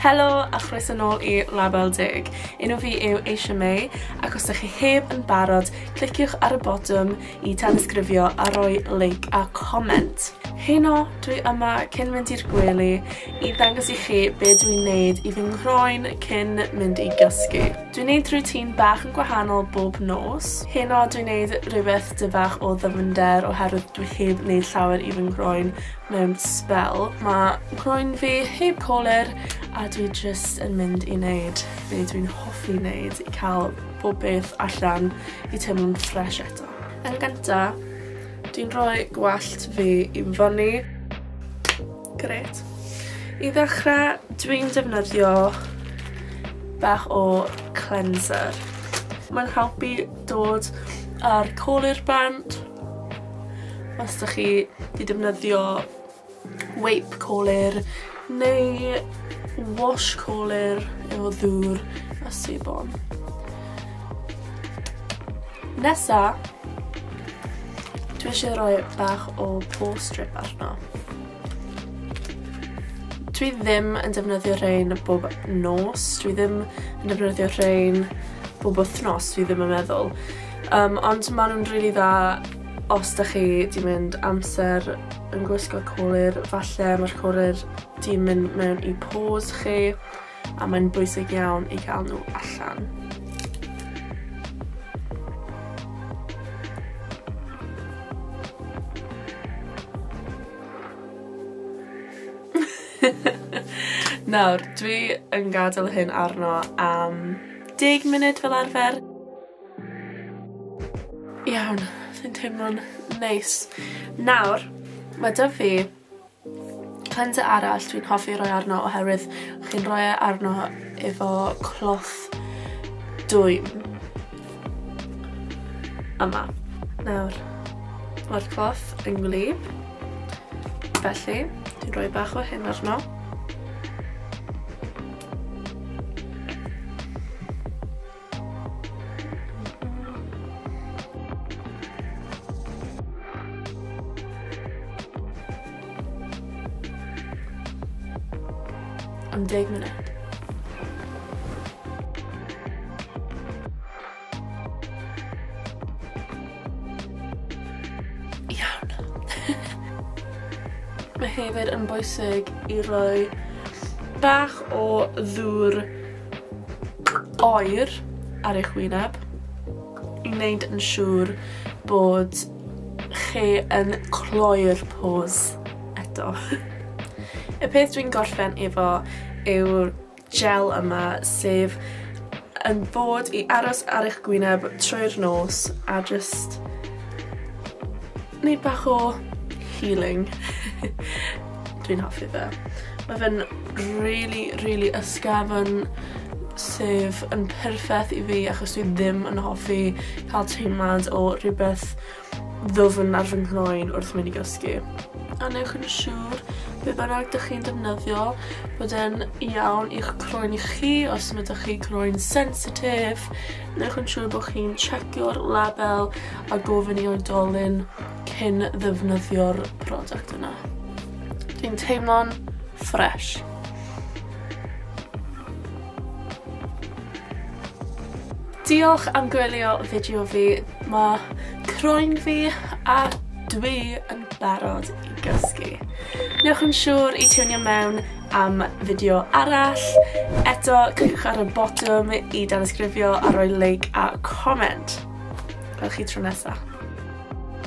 Helo a chroeso nôl i Label Deg. Un o fi yw Aisha May ac os ydych chi heb yn barod, cliciwch ar y botwm i tanysgrifio a roi like a comment. Heno, dwi yma cyn mynd i'r gwely i ddangos i chi be dwi'n gwneud i fy nghroen cyn mynd i gysgu. Dwi'n gwneud rhywun bach yn gwahanol bob nos. Heno, dwi'n gwneud rhywbeth dyfach o ddyfnder oherwydd dwi heb wneud llawer i fy nghroen mewn spel. Mae nghroen fi heb colur a dwi jyst yn mynd i wneud be dwi'n hoffi wneud i cael pob peth allan i teimlo'n ffres eto. Yn gynta, dwi'n rhoi gwallt fi i fyny. Gret. I ddechrau, dwi'n defnyddio bach o cleanser. Mae'n helpu dod ar col i'r band. Os da chi di defnyddio Wipe colir neu wash colir efo ddŵr a sebon. Nesa, dwi eisiau rhoi bach o pore strip arno. Dwi ddim yn defnyddio rhain bob nos, dwi ddim yn defnyddio rhain bob wythnos, dwi ddim yn meddwl. Um, ond maen nhw'n rili really dda Os da chi di mynd amser yn gwisgo colir, falle mae'r colir di mynd mewn i pose chi, a mae'n bwysig iawn i gael nhw allan. Nawr, dwi yn gadael hyn arno am deg munud fel arfer. Iawn, fi'n teimlo'n neis. Nawr ma' 'da fi cleanser arall dwi'n hoffi roi arno oherwydd chi'n rhoi e arno efo cloth dwym. Yma. Nawr ma'r cloth yn wlyb. Felly dwi'n rhoi bach o hyn arno. am deg munud. Iawn. Mae hefyd yn bwysig i roi bach o ddŵr oer ar eich wyneb i wneud yn siŵr bod chi yn cloi'r pose eto. Y peth dwi'n gorffen efo yw'r gel yma sef yn bod i aros ar eich gwyneb trwy'r nos a just Neud bach o healing. Dwi'n hoffi fe. Mae fe'n really, really ysgafn sef yn perffaith i fi achos dwi ddim yn hoffi cael teimlad o rhywbeth ddwfn ar fy nghroen wrth mynd i gysgu. A newch yn siŵr be bynnag dych chi'n defnyddio bod e'n iawn i'ch croen i chi os mae dych chi croen sensitif Newch yn siŵr bod chi'n checio'r label a gofyn i oedolyn cyn ddefnyddio'r product yna. Dwi'n teimlo'n ffres. Diolch am gwylio fideo fi. Mae croen fi a dwi yn barod i gysgu. Newch yn siŵr i tiwnio mewn am fideo arall. Eto, cliciwch ar y botwm i danysgrifio a rhoi like a comment. Gweld chi tro nesa.